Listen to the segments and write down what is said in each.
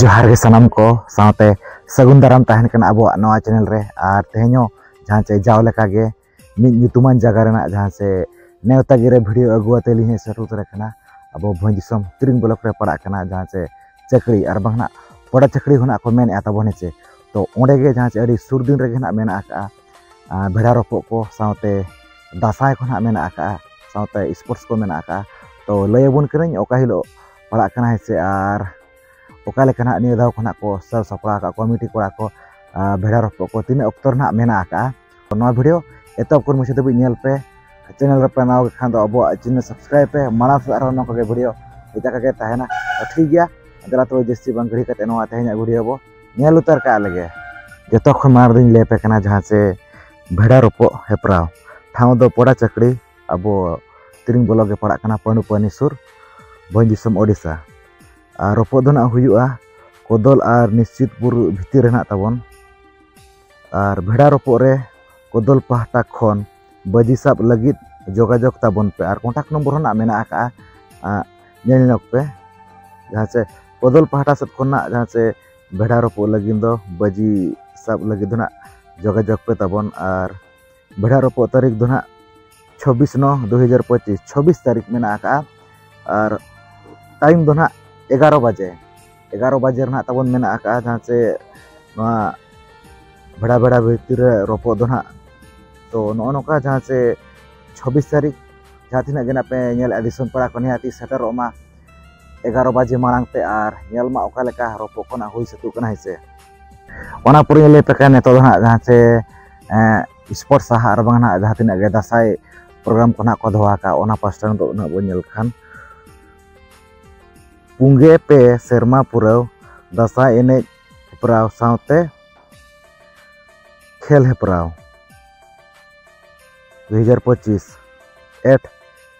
ᱡᱚᱦᱟᱨ ᱜᱮ ᱥᱟᱱᱟᱢ ᱠᱚ ᱥᱟᱶᱛᱮ ᱥᱟᱹᱜᱩᱱ ᱫᱟᱨᱟᱢ ᱛᱟᱦᱮᱱ ᱠᱟᱱᱟ ᱟᱵᱚᱣᱟᱜ ᱱᱚᱣᱟ ᱪᱮᱱᱮᱞ ᱨᱮ ᱟᱨ ᱛᱮᱦᱮᱧ ᱦᱚᱸ ᱡᱟᱦᱟᱸ ᱪᱮ ᱡᱟᱣ ᱞᱮᱠᱟ ᱜᱮ ᱢᱤᱫ ᱧᱩᱛᱩᱢᱟᱱ ᱡᱟᱭᱜᱟ ᱨᱮᱱᱟᱜ ᱡᱟᱦᱟᱸ ᱪᱮ ᱱᱮᱣᱛᱟ ᱜᱤᱨᱟᱹ ᱵᱷᱤᱰᱤᱭᱳ ᱟᱹᱜᱩ ᱟᱛᱮ ᱞᱤᱧ ᱥᱮᱴᱮᱨ ᱩᱛᱟᱹᱨ ᱟᱠᱟᱱᱟ ᱟᱵᱚ ᱵᱷᱚᱸᱡᱽ ᱫᱤᱥᱚᱢ ᱛᱤᱨᱤᱝ ᱵᱞᱚᱠ ᱨᱮ ᱯᱟᱲᱟᱜ ᱠᱟᱱᱟ ᱡᱟᱦᱟᱸ ᱪᱮ ᱪᱟᱹᱠᱨᱤ ᱟᱨ ᱵᱟᱝ ᱱᱟᱜ ᱯᱚᱲᱟ ᱪᱟᱹᱠᱨᱤ ᱦᱚᱸ ᱱᱟᱜ ᱠᱚ ᱢᱮᱱᱮᱫᱼᱟ ᱛᱟᱵᱚᱱ ᱦᱮᱸ ᱪᱮ ᱛᱚ ᱚᱸᱰᱮ ᱜᱮ ᱡᱟᱦᱟᱸ ᱪᱮ ᱟᱹᱰᱤ ᱥᱩᱨ ᱫᱤᱱ ᱨᱮᱜᱮ ᱱᱟᱜ ᱢᱮᱱᱟᱜ ᱟᱠᱟᱜᱼᱟ ᱵᱷᱮᱲᱟ ᱨᱚᱯᱚᱜ ᱠᱚ ᱥᱟᱶᱛᱮ ᱫᱟᱸᱥᱟᱭ ᱠᱚ ᱱᱟᱜ ᱢᱮᱱᱟᱜ ᱟᱠᱟᱜᱼᱟ ᱥᱟᱶᱛᱮ ᱥᱯᱳᱨᱴᱥ ᱠᱚ ᱢᱮᱱᱟᱜ ᱟᱠᱟᱜᱼᱟ ᱛᱚ ᱞᱟᱹᱭ ᱟᱵᱚᱱ ᱠᱟᱹᱱᱟᱹᱧ ᱚᱠᱟ ᱦᱤᱞᱳᱜ ᱯᱟᱲᱟᱜ ᱠᱟᱱᱟ ᱦᱮᱸ ᱥᱮ ᱟᱨ ᱚᱠᱟ ᱞᱮᱠᱟ ᱱᱟᱦᱟᱜ ᱱᱤᱭᱟᱹ ᱫᱷᱟᱣ ᱠᱷᱚᱱᱟᱜ ᱠᱚ ᱥᱟᱵ ᱥᱟᱯᱲᱟᱣ ᱟᱠᱟᱫ ᱠᱚᱣᱟ ᱢᱤᱴᱤ ᱠᱚᱲᱟ ᱠᱚ ᱵᱷᱮᱲᱟ ᱨᱚᱯᱚᱜ ᱠᱚ ᱛᱤᱱᱟᱹᱜ ᱚᱠᱛᱚ ᱨᱮᱱᱟᱜ ᱢᱮᱱᱟᱜ ᱟᱠᱟᱫᱼᱟ ᱛᱚ ᱱᱚᱣᱟ ᱵᱷᱤᱰᱤᱭᱳ ᱮᱛᱚᱦᱚᱵ ᱠᱷᱚᱱ ᱢᱩᱪᱟᱹᱫ ᱫᱷᱟᱹᱵᱤᱡ ᱧᱮᱞ ᱯᱮ ᱪᱮᱱᱮᱞ ᱨᱮᱯᱮ ᱱᱟᱣᱟ ᱜᱮ ᱠᱷᱟᱱ ᱫᱚ ᱟᱵᱚᱣᱟᱜ ᱪᱮᱱᱮᱞ ᱥᱟᱵᱥᱠᱨᱟᱭᱤᱵ ᱯᱮ ᱢᱟᱲᱟᱝ ᱥᱮᱫ ᱟᱨᱦᱚᱸ ᱱᱚᱝᱠᱟ ᱜᱮ ᱵᱷᱤᱰᱤᱭᱳ ᱦᱮᱡ ᱟᱠᱟᱜ ᱜᱮ ᱛᱟᱦᱮᱱᱟ ᱴᱷᱤᱠ ᱜᱮᱭᱟ ᱫᱮᱞᱟ ᱛᱚᱵᱮ ᱡᱟᱹᱥᱛᱤ ᱵᱟᱝ ᱜᱷᱟᱹᱲᱤ ᱠᱟᱛᱮ ᱱᱚᱣᱟ ᱛᱮᱦᱮᱧᱟᱜ ᱵᱷᱤᱰᱤᱭᱳ ᱵᱚ ᱧᱮᱞ ᱩᱛᱟᱹᱨ ᱠᱟᱜ ᱞᱮᱜᱮ ᱡᱚᱛᱚ ᱠᱷᱚᱱ ᱢᱟᱲᱟᱝ ᱨᱮᱧ ᱞᱟᱹᱭ ᱟᱯᱮ ᱠᱟᱱᱟ ᱡᱟᱦᱟᱸ ᱥᱮ ᱵᱷᱮᱲᱟ ᱨᱚᱯᱚᱜ ᱦᱮᱯᱨᱟᱣ ᱴᱷᱟᱶ ᱫᱚ ᱯᱚᱲᱟ ᱪᱟᱹᱠᱲᱤ ᱟᱵᱚ ᱛᱤᱨᱤᱝ ᱵᱞᱚᱠ ᱜᱮ ᱯᱟᱲᱟᱜ ᱠᱟᱱᱟ ᱯᱟᱹᱱᱩᱯᱟᱹᱱᱤ ᱥᱩᱨ ᱵᱷᱚᱸᱡᱽ ᱫᱤᱥᱚᱢ ᱳᱰᱤᱥᱟ ᱟᱨ ᱨᱚᱯᱚᱜ ᱫᱚ ᱱᱟᱜ ᱦᱩᱭᱩᱜᱼᱟ ᱠᱚᱫᱚᱞ ᱟᱨ ᱱᱤᱥᱪᱤᱛᱯᱩᱨ ᱵᱷᱤᱛᱤᱨ ᱨᱮ ᱱᱟᱜ ᱛᱟᱵᱚᱱ ᱟᱨ ᱵᱷᱮᱰᱟ ᱨᱚᱯᱚᱜ ᱨᱮ ᱠᱚᱫᱚᱞ ᱯᱟᱦᱴᱟ ᱠᱷᱚᱱ ᱵᱟᱹᱡᱤ ᱥᱟᱵ ᱞᱟᱹᱜᱤᱫ ᱡᱳᱜᱟᱡᱳᱜᱽ ᱛᱟᱵᱚᱱ ᱯᱮ ᱟᱨ ᱠᱚᱱᱴᱟᱠᱴ ᱱᱚᱢᱵᱚᱨ ᱦᱚᱸ ᱱᱟᱜ ᱢᱮᱱᱟᱜ ᱟᱠᱟᱜᱼᱟ ᱧᱮᱞ ᱧᱚᱜ ᱯᱮ ᱡᱟᱦᱟᱸ ᱪᱮ ᱠᱚᱫᱚᱞ ᱯᱟᱦᱴᱟ ᱥᱮᱫ ᱠᱷᱚᱱ ᱱᱟᱜ ᱡᱟᱦᱟᱸ ᱪᱮ ᱵᱷᱮᱰᱟ ᱨᱚᱯᱚᱜ ᱞᱟᱹᱜᱤᱫ ᱫᱚ ᱵᱟᱹᱡᱤ ᱥᱟᱵ ᱞᱟᱹᱜᱤᱫ ᱫᱚ ᱱᱟᱜ ᱡᱳᱜᱟᱡᱳᱜᱽ ᱯᱮ ᱛᱟᱵᱚᱱ ᱟᱨ ᱵᱷᱮᱰᱟ ᱨᱚᱯᱚᱜ ᱛᱟᱹᱨᱤᱠᱷ ᱫᱚ ᱱᱟᱦᱟᱜ ᱪᱷᱚᱵᱵᱤᱥ ᱱᱚ ᱫᱩ ᱦᱟᱡᱟᱨ ᱯᱚᱸᱪᱤᱥ ᱪᱷᱚᱵᱵᱤᱥ ᱛᱟᱹᱨᱤᱠᱷ ᱢᱮᱱᱟᱜ ᱟᱠᱟᱫᱼᱟ ᱟᱨ ᱴᱟᱭᱤᱢ ᱫᱚ ᱱᱟᱦᱟᱜ ᱮᱜᱟᱨᱚ ᱵᱟᱡᱮ ᱮᱜᱟᱨᱚ ᱵᱟᱡᱮ ᱨᱮᱱᱟᱜ ᱛᱟᱵᱚᱱ ᱢᱮᱱᱟᱜ ᱟᱠᱟᱫᱼᱟ ᱡᱟᱦᱟᱸ ᱪᱮ ᱱᱚᱣᱟ ᱵᱷᱮᱰᱟ ᱵᱷᱮᱰᱟ ᱵᱷᱤᱛᱤᱨ ᱨᱮ ᱨᱚᱯᱚᱜ ᱫᱚ ᱱᱟᱦᱟᱜ ᱛᱚ ᱱᱚᱜᱼᱚ ᱱᱚᱝᱠᱟ ᱡᱟᱦᱟᱸ ᱪᱮ ᱪᱷᱚᱵᱵᱤᱥ ᱛᱟᱹᱨᱤᱠᱷ ᱡᱟᱦᱟᱸ ᱛᱤᱱᱟᱹᱜ ᱜᱮ ᱱᱟᱦᱟᱜ ᱯᱮ ᱧᱮᱞᱮᱫᱼᱟ ᱫᱤᱥᱚᱢ ᱯᱟᱲᱟ ᱠᱚ ᱱᱤᱦᱟᱹᱛᱤ ᱥᱮᱴᱮᱨᱚᱜ ᱢᱟ ᱮᱜᱟᱨᱚ ᱵᱟᱡᱮ ᱢᱟᱲᱟᱝ ᱛᱮ ᱟᱨ ᱧᱮᱞ ᱢᱟ ᱚᱠᱟ ᱞᱮᱠᱟ ᱨᱚᱯᱚᱜ ᱠᱚ ᱱᱟᱜ ᱦᱩᱭ ᱥᱟᱹᱛᱚᱜ ᱠᱟᱱᱟ ᱦᱮᱸᱥᱮ ᱚᱱᱟ ᱯᱚᱨᱮ ᱞᱟᱹᱭ ᱯᱮ ᱠᱟᱱᱟ ᱱᱤᱛᱚᱜ ᱫᱚ ᱱᱟᱜ ᱡᱟᱦᱟᱸ ᱪᱮ ᱥᱯᱳᱨᱴ ᱥᱟᱦᱟ ᱟᱨ ᱵᱟᱝ ᱱᱟᱜ ᱡᱟᱦᱟᱸ ᱛᱤᱱᱟᱹᱜ ᱜᱮ ᱫᱟᱸᱥᱟᱭ ᱯᱨᱳᱜᱨᱟᱢ ᱠᱚ ᱱᱟᱜ ᱠᱚ ᱫᱚᱦᱚ ᱟᱠᱟᱫ ᱚᱱᱟ ᱯᱟᱥᱴᱟ ᱱᱤᱛᱚᱜ ᱱᱟᱜ ᱵᱚᱱ ᱧᱮᱞ ᱠᱷᱟᱱ ᱯᱩᱸᱜᱮ ᱯᱮ ᱥᱮᱨᱢᱟ ᱯᱩᱨᱟᱹᱣ ᱫᱟᱸᱥᱟᱭ ᱮᱱᱮᱡ ᱦᱮᱯᱨᱟᱣ ᱥᱟᱶᱛᱮ ᱠᱷᱮᱞ ᱦᱮᱯᱨᱟᱣ ᱫᱩ ᱦᱟᱡᱟᱨ ᱯᱚᱸᱪᱤᱥ ᱮᱴ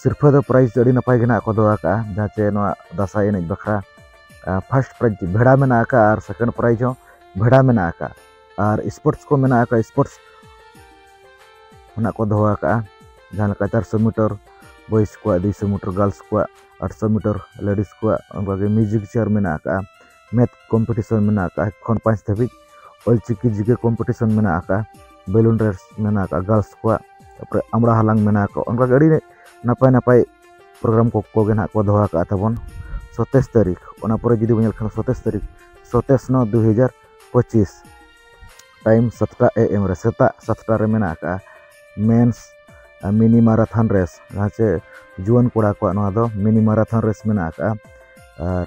ᱥᱤᱨᱯᱷᱟᱹ ᱫᱚ ᱯᱨᱟᱭᱤᱡᱽ ᱫᱚ ᱟᱹᱰᱤ ᱱᱟᱯᱟᱭ ᱜᱮ ᱱᱟᱜ ᱠᱚ ᱫᱚᱦᱚ ᱟᱠᱟᱜᱼᱟ ᱡᱟᱦᱟᱸ ᱪᱮ ᱱᱚᱣᱟ ᱫᱟᱸᱥᱟᱭ ᱮᱱᱮᱡ ᱵᱟᱠᱷᱨᱟ ᱯᱷᱟᱥᱴ ᱯᱨᱟᱭᱤᱡᱽ ᱵᱷᱮᱲᱟ ᱢᱮᱱᱟᱜ ᱟᱠᱟᱫᱼᱟ ᱟᱨ ᱥᱮᱠᱮᱱᱰ ᱯᱨᱟᱭᱤᱡᱽ ᱦᱚᱸ ᱵᱷᱮᱲᱟ ᱢᱮᱱᱟᱜ ᱟᱠᱟᱫᱼᱟ ᱟᱨ ᱥᱯᱳᱨᱴᱥ ᱠᱚ ᱢᱮᱱᱟᱜ ᱟᱠᱟᱫᱼᱟ ᱥᱯᱳᱨᱴᱥ ᱚᱱᱟ ᱠᱚ ᱫᱚᱦᱚ ᱟᱠᱟᱫᱼᱟ ᱡᱟᱦᱟᱸ ᱞᱮᱠᱟ ᱪᱟᱨᱥᱚ ᱢᱤᱴᱚᱨ ᱵᱚᱭᱮᱥ ᱠᱚᱣᱟᱜ ᱫᱩᱭᱥᱚ ᱢᱤᱴᱚᱨ ᱜᱟᱨᱞᱥ ᱠᱚᱣᱟᱜ ᱟᱴᱥᱚ ᱢᱤᱴᱚᱨ ᱞᱮᱰᱤᱥ ᱠᱚᱣᱟᱜ ᱚᱱᱠᱟᱜᱮ ᱢᱤᱭᱩᱡᱤᱠ ᱪᱮᱭᱟᱨ ᱢᱮᱱᱟᱜ ᱟᱠᱟᱫᱼᱟ ᱢᱮᱛᱷ ᱠᱚᱢᱯᱤᱴᱤᱥᱚᱱ ᱢᱮᱱᱟᱜ ᱟᱠᱟᱫᱼᱟ ᱮᱠ ᱠᱷᱚᱱ ᱯᱟᱸᱪ ᱫᱷᱟᱹᱵᱤᱡ ᱚᱞᱪᱤᱠᱤ ᱡᱤᱠᱮ ᱠᱚᱢᱯᱤᱴᱤᱥᱚᱱ ᱢᱮᱱᱟᱜ ᱟᱠᱟᱫᱼᱟ ᱵᱮᱞᱩᱱ ᱨᱮᱥ ᱢᱮᱱᱟᱜ ᱟᱠᱟᱫᱼᱟ ᱜᱟᱨᱞᱥ ᱠᱚᱣᱟᱜ ᱛᱟᱨᱯᱚᱨᱮ ᱟᱢᱲᱟ ᱦᱟᱞᱟᱝ ᱢᱮᱱᱟᱜ ᱟᱠᱟᱫᱼᱟ ᱚᱱᱠᱟᱜᱮ ᱟᱹᱰᱤ ᱱᱟᱯᱟᱭ ᱱᱟᱯᱟᱭ ᱯᱨᱳᱜᱨᱟᱢ ᱠᱚᱜᱮ ᱱᱟᱦᱟᱜ ᱠᱚ ᱫᱚᱦᱚ ᱟᱠᱟᱫᱼᱟ ᱛᱟᱵᱚᱱ ᱥᱚᱛᱮᱥ ᱛᱟᱹᱨᱤᱠᱷ ᱚᱱᱟ ᱯᱚᱨᱮ ᱡᱩᱫᱤ ᱵᱚᱱ ᱧᱮᱞ ᱠᱷᱟᱱ ᱥᱚᱛᱮᱥ ᱛᱟᱹᱨᱤᱠᱷ ᱥᱚᱛᱮᱥ ᱱᱚ ᱫᱩ ᱦᱟᱡᱟᱨ ᱯᱚᱸᱪᱤᱥ ᱴᱟᱭᱤᱢ ᱥᱟᱛᱴᱟ ᱮ ᱮᱢ ᱨᱮ ᱥᱮᱛᱟᱜ ᱥᱟᱛᱴᱟ ᱨᱮ ᱢᱮᱱᱟᱜ ᱟᱠᱟᱫᱼᱟ ᱢᱮᱱᱥ ᱢᱤᱱᱤ ᱢᱟᱨᱟᱛᱷᱚᱱ ᱨᱮᱥ ᱡᱟᱦᱟᱸ ᱪᱮ ᱡᱩᱣᱟᱹᱱ ᱠᱚᱲᱟ ᱠᱚᱣᱟᱜ ᱱᱚᱣᱟ ᱫᱚ ᱢᱤᱱᱤ ᱢᱟᱨᱟᱛᱷᱚᱱ ᱨᱮᱥ ᱢᱮᱱᱟᱜ ᱟᱠᱟᱫᱼᱟ ᱟᱨ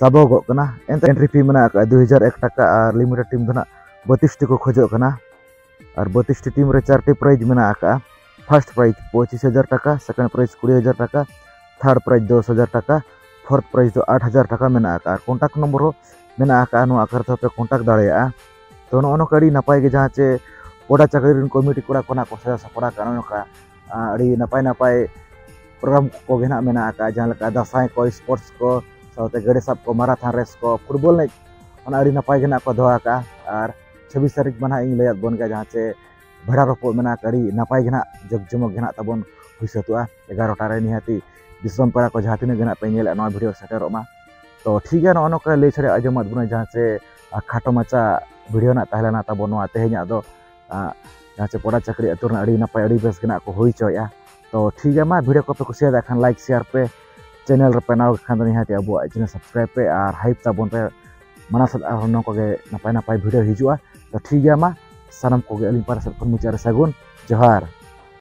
ᱥᱟᱵᱚᱜᱚᱜ ᱠᱟᱱᱟ ᱮᱱᱛᱮ ᱮᱱᱴᱨᱤ ᱯᱷᱤ ᱢᱮᱱᱟᱜ ᱟᱠᱟᱫᱼᱟ ᱫᱩ ᱦᱟᱡᱟᱨ ᱮᱠ ᱴᱟᱠᱟ ᱟᱨ ᱞᱤᱢᱤᱴᱮᱰ ᱴᱤᱢ ᱫᱚ ᱱᱟᱜ ᱵᱟᱹᱛᱤᱥᱴᱤ ᱠᱚ ᱠᱷᱚᱡᱚᱜ ᱠᱟᱱᱟ ᱟᱨ ᱵᱟᱹᱛᱤᱥᱴᱤ ᱴᱤᱢ ᱨᱮ ᱪᱟᱨᱴᱤ ᱯᱨᱟᱭᱤᱡᱽ ᱢᱮᱱᱟᱜ ᱟᱠᱟᱫᱼᱟ ᱯᱷᱟᱨᱥᱴ ᱯᱨᱟᱭᱤᱡᱽ ᱯᱚᱸᱪᱤᱥ ᱦᱟᱡᱟᱨ ᱴᱟᱠᱟ ᱥᱮᱠᱮᱱᱰ ᱯᱨᱟᱭᱤᱡᱽ ᱠᱩᱲᱤ ᱦᱟᱡᱟᱨ ᱴᱟᱠᱟ ᱛᱷᱟᱨᱰ ᱯᱨᱟᱭᱤᱡᱽ ᱫᱚᱥ ᱦᱟᱡᱟᱨ ᱴᱟᱠᱟ ᱯᱷᱳᱨᱛᱷ ᱯᱨᱟᱭᱤᱡᱽ ᱫᱚ ᱟᱴ ᱦᱟᱡᱟᱨ ᱴᱟᱠᱟ ᱢᱮᱱᱟᱜ ᱟᱠᱟᱫᱼᱟ ᱟᱨ ᱠᱚᱱᱴᱟᱠᱴ ᱱᱚᱢᱵᱚᱨ ᱦᱚᱸ ᱢᱮᱱᱟᱜ ᱟᱠᱟᱫᱼᱟ ᱱᱚᱣᱟ ᱟᱠᱟᱨ ᱛᱮᱦᱚᱸ ᱯᱮ ᱠᱚᱱᱴᱟᱠᱴ ᱫᱟᱲᱮᱭᱟᱜᱼᱟ ᱛᱚ ᱱᱚᱜᱼᱚ ᱱᱚᱝᱠᱟ ᱟᱹᱰᱤ ᱱᱟᱯᱟᱭ ᱜᱮ ᱡᱟᱦᱟᱸ ᱪᱮ ᱯᱚᱰᱟ ᱪᱟᱹᱠᱨᱤ ᱨᱮᱱ ᱠᱚᱢᱤᱴᱤ ᱠᱚᱲᱟ ᱠᱚ ᱱᱟᱜ ᱠᱚ ᱥᱟᱡᱟᱣ ᱥᱟᱯᱲᱟᱣ ᱠᱟᱜᱼᱟ ᱱᱚᱜᱼᱚ ᱱᱚᱝᱠᱟ ᱟᱹᱰᱤ ᱱᱟᱯᱟᱭ ᱱᱟᱯᱟᱭ ᱯᱨᱳᱜᱨᱟᱢ ᱠᱚᱜᱮ ᱱᱟᱜ ᱢᱮᱱᱟᱜ ᱟᱠᱟᱫᱼᱟ ᱡᱟᱦᱟᱸ ᱞᱮᱠᱟ ᱫᱟᱸᱥᱟᱭ ᱠᱚ ᱥᱯᱳᱨᱴᱥ ᱠᱚ ᱥᱟᱶᱛᱮ ᱜᱟᱹᱰᱤ ᱥᱟᱵ ᱠᱚ ᱢᱟᱨᱟᱛᱷᱚᱱ ᱨᱮᱥ ᱠᱚ ᱯᱷᱩᱴᱵᱚᱞ ᱮᱱᱮᱡ ᱚᱱᱟ ᱟᱹᱰᱤ ᱱᱟᱯᱟᱭ ᱜᱮ ᱱᱟᱜ ᱠᱚ ᱫᱚᱦᱚ ᱟᱠᱟᱫᱼᱟ ᱟᱨ ᱪᱷᱟᱵᱵᱤᱥ ᱛᱟᱹᱨᱤᱠᱷ ᱢᱟ ᱱᱟᱜ ᱤᱧ ᱞᱟᱹᱭᱟᱫ ᱵᱚᱱ ᱜᱮᱭᱟ ᱡᱟᱦᱟᱸ ᱪᱮ ᱵᱷᱮᱲᱟ ᱨᱚᱯᱚᱜ ᱢᱮᱱᱟᱜ ᱟᱹᱰᱤ ᱱᱟᱯᱟᱭ ᱜᱮ ᱱᱟᱜ ᱡᱟᱠ ᱡᱚᱢᱚᱠ ᱜᱮ ᱱᱟᱜ ᱛᱟᱵᱚᱱ ᱦᱩᱭ ᱥᱟᱹᱛᱚᱜᱼᱟ ᱮᱜᱟᱨᱚᱴᱟ ᱨᱮ ᱱᱤᱦᱟᱹᱛᱤ ᱫᱤᱥᱚᱢ ᱯᱮᱲᱟ ᱠᱚ ᱡᱟᱦᱟᱸ ᱛᱤᱱᱟᱹᱜ ᱜᱮ ᱱᱟᱜ ᱯᱮ ᱧᱮᱞᱮᱫ ᱱᱚᱣᱟ ᱵᱷᱤᱰᱤᱭᱳ ᱥᱮᱴᱮᱨᱚᱜ ᱢᱟ ᱛᱚ ᱴᱷᱤᱠ ᱜᱮᱭᱟ ᱱᱚᱜᱼᱚ ᱱᱚᱝᱠᱟ ᱞᱟᱹᱭ ᱪᱷᱟᱲᱟ ᱟᱸᱡᱚᱢᱟᱫ ᱵᱚᱱᱟ ᱡᱟᱦᱟᱸ ᱪᱮ ᱠᱷᱟᱴᱚ ᱢᱟᱪᱷᱟ ᱵᱷᱤᱰᱤᱭᱳ ᱱᱟᱜ ᱛᱟᱦᱮᱸ ᱞᱮᱱᱟ ᱛᱟᱵᱚᱱ ᱱᱚᱣᱟ ᱛᱮᱦᱮᱧᱟᱜ ᱫᱚ ᱡᱟᱦᱟᱸ ᱪᱮ ᱯᱚᱲᱟ ᱪᱟᱹᱠᱨᱤ ᱟᱹᱛᱩ ᱨᱮᱱᱟᱜ ᱟᱹᱰᱤ ᱱᱟᱯᱟᱭ ᱟᱹᱰᱤ ᱵᱮᱥ ᱜᱮᱱᱟᱜ ᱠᱚ ᱦᱩᱭ ᱦᱚᱪᱚᱭᱮᱫᱼᱟ ᱛᱚ ᱴᱷᱤᱠ ᱜᱮᱭᱟ ᱢᱟ ᱵᱷᱤᱰᱤᱭᱳ ᱠᱚᱯᱮ ᱠᱩᱥᱤᱭᱟᱫᱟ ᱠᱷᱟᱱ ᱞᱟᱭᱤᱠ ᱥᱮᱭᱟᱨ ᱯᱮ ᱪᱮᱱᱮᱞ ᱨᱮᱯᱮ ᱱᱟᱣᱟ ᱠᱷᱟᱱ ᱫᱚ ᱱᱤᱦᱟᱹᱛ ᱟᱵᱚᱣᱟᱜ ᱪᱮᱱᱮᱞ ᱥᱟᱵᱥᱠᱨᱟᱭᱤᱵ ᱯᱮ ᱟᱨ ᱦᱟᱭᱤᱯ ᱛᱟᱵᱚᱱ ᱯᱮ ᱢᱟᱱᱟ ᱥᱟᱛ ᱟᱨ ᱱᱚᱝᱠᱟ ᱜᱮ ᱱᱟᱯᱟᱭ ᱱᱟᱯᱟᱭ ᱵᱷᱤᱰᱤᱭᱳ ᱦᱤᱡᱩᱜᱼᱟ ᱛᱚ ᱴᱷᱤᱠ ᱜᱮᱭᱟ ᱢᱟ ᱥᱟᱱᱟᱢ ᱠᱚᱜᱮ ᱟᱹᱞᱤᱧ ᱯᱟᱦᱴᱟ ᱥᱮᱫ ᱠᱷᱚᱱ ᱢᱩᱪᱟᱹᱫ ᱨᱮ ᱥᱟᱹᱜᱩᱱ ᱡᱚᱦᱟᱨ